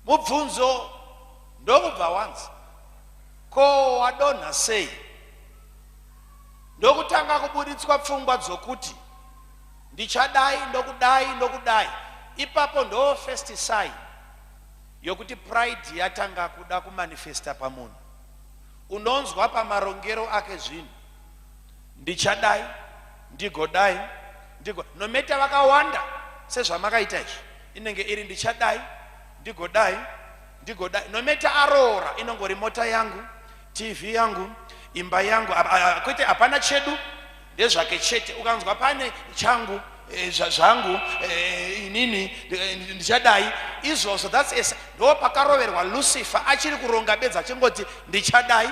Mubvunzo ndokubva wanzi ko wadonha sei? Ndokutanga kuburitswa pfungwa dzokuti ndichadai ndokudai ndokudai. Ipapo ndoo first sign yokuti pride yatanga kuda kumanifesta pamunhu. Unonzwa pamarongero ake zvinhu. ndichadai ndigodai ndigo nometa vakawanda sezvamakaita izvi inenge iri ndichadai ndigodai ndigodai nometa aroora inongori mota yangu tv yangu imba yangu kwete hapana chedu ndezvake chete ukanzwa pane changu eh, zvangu eh, inini eh, ndichadai izvozvo thats ndo pakaroverwa lucifer achiri kuronga bedzi achingoti ndichadai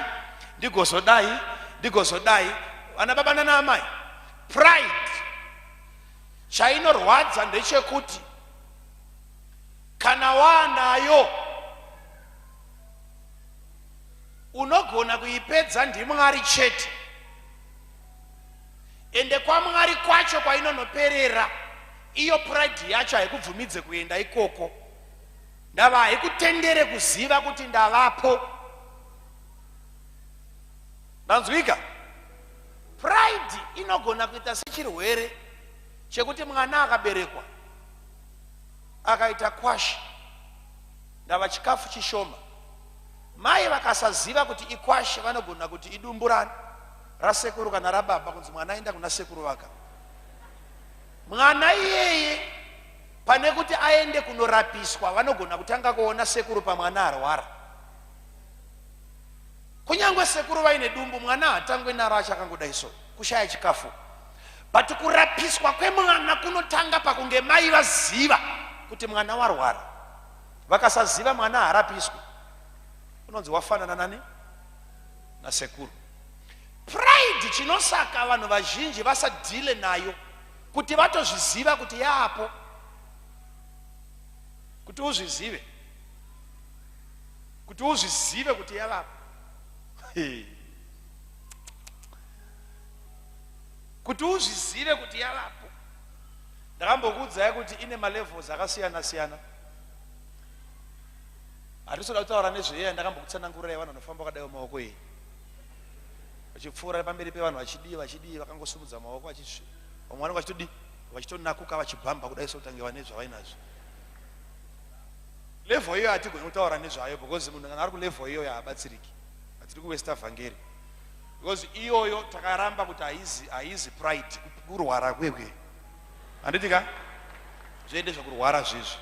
ndigozodai ndigozodai vana baba nana amai pride chainorwadza ndechekuti kana waanayo unogona kuipedza ndimwari chete ende kwamwari kwacho kwainonoperera iyo pride yacho haikubvumidze kuenda ikoko ndava haikutendere kuziva kuti ndavapo Ndanzwika? Pride inogona kuita sechirwere chekuti mwana akaberekwa akaita kwashi ndava chikafu chishoma mai vakasaziva kuti ikwashe vanogona kuti idumburani rasekuru kana rababa kunzi mwana aenda kuna sekuru vaka mwana iyeye pane kuti aende kunorapiswa vanogona kutanga kuona sekuru pamwana arwara kunyange sekuru vaine dumbu mwana hatangwe naro achakangodai so kushaya chikafu but kurapiswa kwemwana kunotanga pakunge mai vaziva kuti mwana warwara vakasaziva mwana harapiswi unonzi wafanana nani nasekuru pride chinosaka vanhu vazhinji vasadhile nayo kuti vatozviziva kuti yaapo kuti uzvizive kuti uzvizive kuti yavapo kuti uzvizive kuti yavapo ndakambokuudzai kuti ine malevels akasiyana siyana hatisoda kutaura nezveyeya ndakambokutsanangurira yevanhu vanofamba vakadaiwo maoko iyi vachipfuura pamberi pevanhu vachidii vachidii vakangosumudza maoko vachisvi vamwe vanenge vachitodii vachitonakuka vachibhamba kudai sokutange vane zvavainazvo Level iyoyo hatigoni kutaura nezvayo because munhu kana ari kulevel iyoyo haabatsiriki. Hatiri kuwesta vhangeri. Because iyoyo takaramba kuti haizi haizi pride kurwara kwekwe. Handiti ka? Zvoende zvekurwara zvizvi.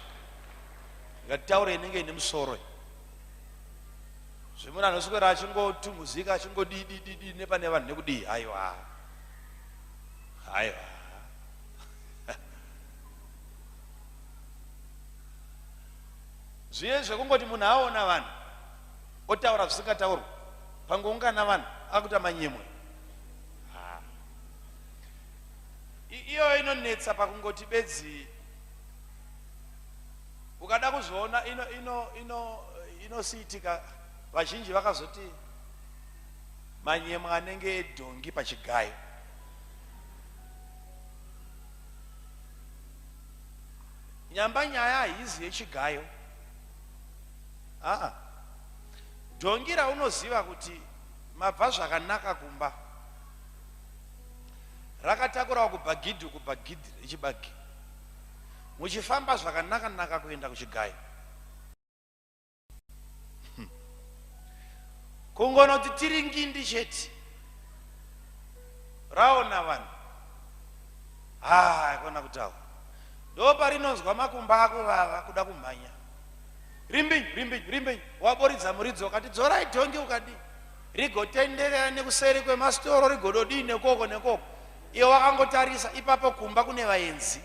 Ngatitaure inenge ine musoro. Zvimuna anoswera achingotumuzika achingodii dii dii nepane vanhu nekudii haiwa. Haiwa. Zviye zvekungoti munhu aona vanhu otaura zvisingataurwa pangoungana vanhu akuita manyemwe ah. iyoyo inonetsa pakungoti bedzi ukada kuzviona ino ino ino inosiitika vazhinji vakazoti manyemwe anenge edhongi pachigayo Nyamba nyaya haizi yechigayo. Haa. Dhongi raunoziva kuti mabva zvakanaka kumba. Rakatakurawo kubhagidhi uku bhagidhi rechibagi. Muchifamba zvakanaka naka kuenda kuchigayo. hmm. kungonoti tiri ngindi chete raona vanhu haa kona kutaura ndo parinonzwa makumba ako vava kuda kumhanya rimbi rimbi rimbi waboridza muridzi wakati dzorai dhongi ukadii rigotenderera nekuseri kwemasitoro rigododii nekoko nekoko iwe wakangotarisa ipapo kumba kune vaenzi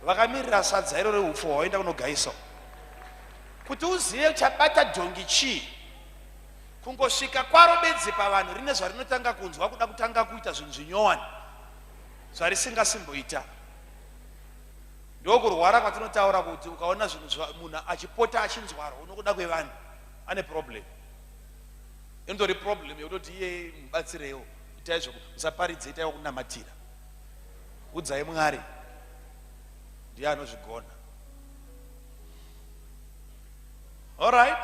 vakamirira sadza iro reupfu hwaoenda kunogaiso kuti uzive chabata dhongi chii kungosvika kwaro bedzi pavanhu rine zvarinotanga kunzwa kuda kutanga kuita zvinhu zvinyowani zvarisingasimboita ndokurwara kwatinotaura kuti ukaona zvinhu munhu achipota achinzwarwa unokuda kwevanhu ane problem inotori problem yekutoti iye mubatsireiwo itai zvoku musaparidze itaiwo kunamatira udzai mwari ndiye anozvigona all right